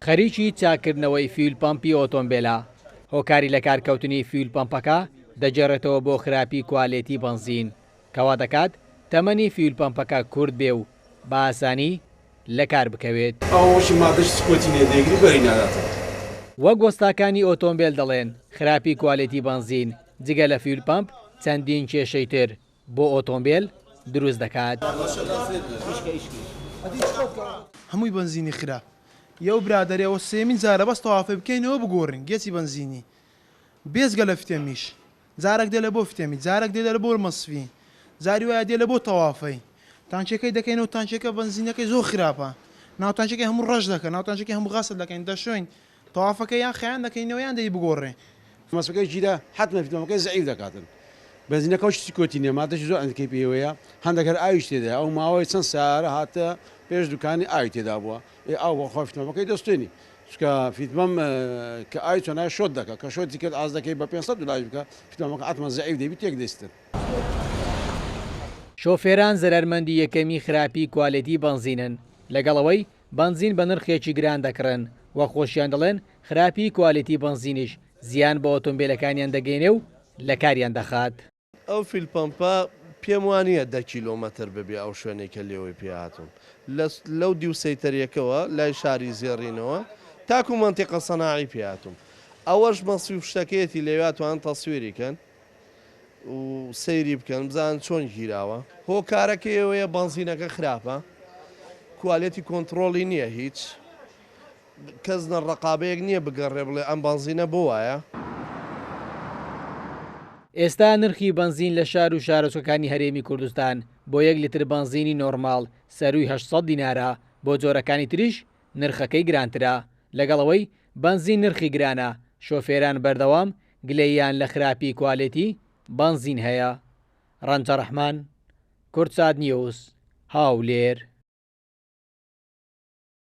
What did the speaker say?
خەریکی چاککردنەوەی فیول پەمپی ئۆتۆمبێلە، هۆکاری لەکارکەوتنی فیول پەمپەکە دەگێڕێتەوە بۆ خراپی کوالێتی بەنزین، کەوا دەکات تەمەنی فیول پەمپەکە کورت بێ و بە ئاسانی لەکار بکەوێت. وەک وەستاکانی ئۆتۆمبێل دەڵێن، خراپی کوالێتی بەنزین جگە لە فیول پەمپ چەندین کێشەی تر، بۆ ئۆتۆمبێل دروست دەکات. هەمووی بەنزینی خراپ یە و برادەر ئەوە سێیەمین جارە بەس تەوافێ بکەینەوە بگۆرین گێچی بەنزینی بێجگە لە فتێمیش جارەک دێ لە بۆ فتێمی جارەک دێ لە بۆر مەسفی جاری وایە دێ لە بۆ تەوافەی تانکیەکەی دەکەینەوە تانکیەکە بەنزینەکەی زۆر خراپە ناوتانکیەکەی هەموو ڕەش دەکە ناوتانکیەکەی هەموو غەسل دەکەین دەشۆین تەوافەکە یان خەیان دەکەینەوە یان دەی بگۆڕێ. مەسەکەی جیرە حەتمە فیتۆمەکەی زەعیف دەکاتن بەنزینەکەو شتی کوتی نیە مادەشی زۆر ئەندکەی پێیەوەیە هەندەک هەر ئاویش تێدایە ئەو ماوەی چەند سارە هاتە پێش دوکانی ئاوی تێدابوە ئێ ئاو بەخوا فیتۆمەکەی دەستێنی چکە فیتمەم کە ئاوی چۆنای شۆت دەکە کە شۆتی کرد ئاز دەکەی بە پێنج سەد دولاریش بکە فیتۆمەکە حەتمەن زەعیف دەبی تێک دەیستن. شۆفێران زەرەرمەندی یەکەمی خراپی کوالێتی بەنزینن لەگەڵ ئەوەی بەنزین بە نرخێکی گران دەکڕن و خۆشیان دەڵێن خراپیی کوالیتی بەنزینیش زیان بە ئۆتۆمبێلەکانیان دەگەینێ و لە کاریان دەخات. ئەو فیول پەمپە پێم وا نییە دە کیلۆمەتر ببێ ئەو شوێنەی کە لێوەی پێ هاتووم. لە لەو دیو سەیتەرییەکەوە لای شاری زێڕینەوە تاکوو مەنتیقە سەناعی پێ هاتووم. ئەوەش مەسیف شتەکەیەتی لەویا توانن تەسویری کەن. و سەیری بکەن بزان چۆن گیراوە هۆکارەکە ئەوەیە بەنزینەکە خراپە کوالێتی کۆنتترۆڵی نییە هیچ کەس نە ڕقابەیەک نییە بگەڕێ بڵێ ئەم بەنزینە بۆ وایە. ئێستا نرخی بەنزین لە شار و شارۆچکەکانی هەرێمی کوردستان بۆ یەک لتر بەنزینی نۆرماڵ سەرووی هەشت سەد دینارە، بۆ جۆرەکانی تریش نرخەکەی گرانترە، لەگەڵ ئەوەی بەنزین نرخی گرانە، شۆفێران بەردەوام گلەییان لە خراپی کوالێتی بەنزین هەیە. ڕەنجە ڕەحمان، کوردساتنیوز، هەولێر.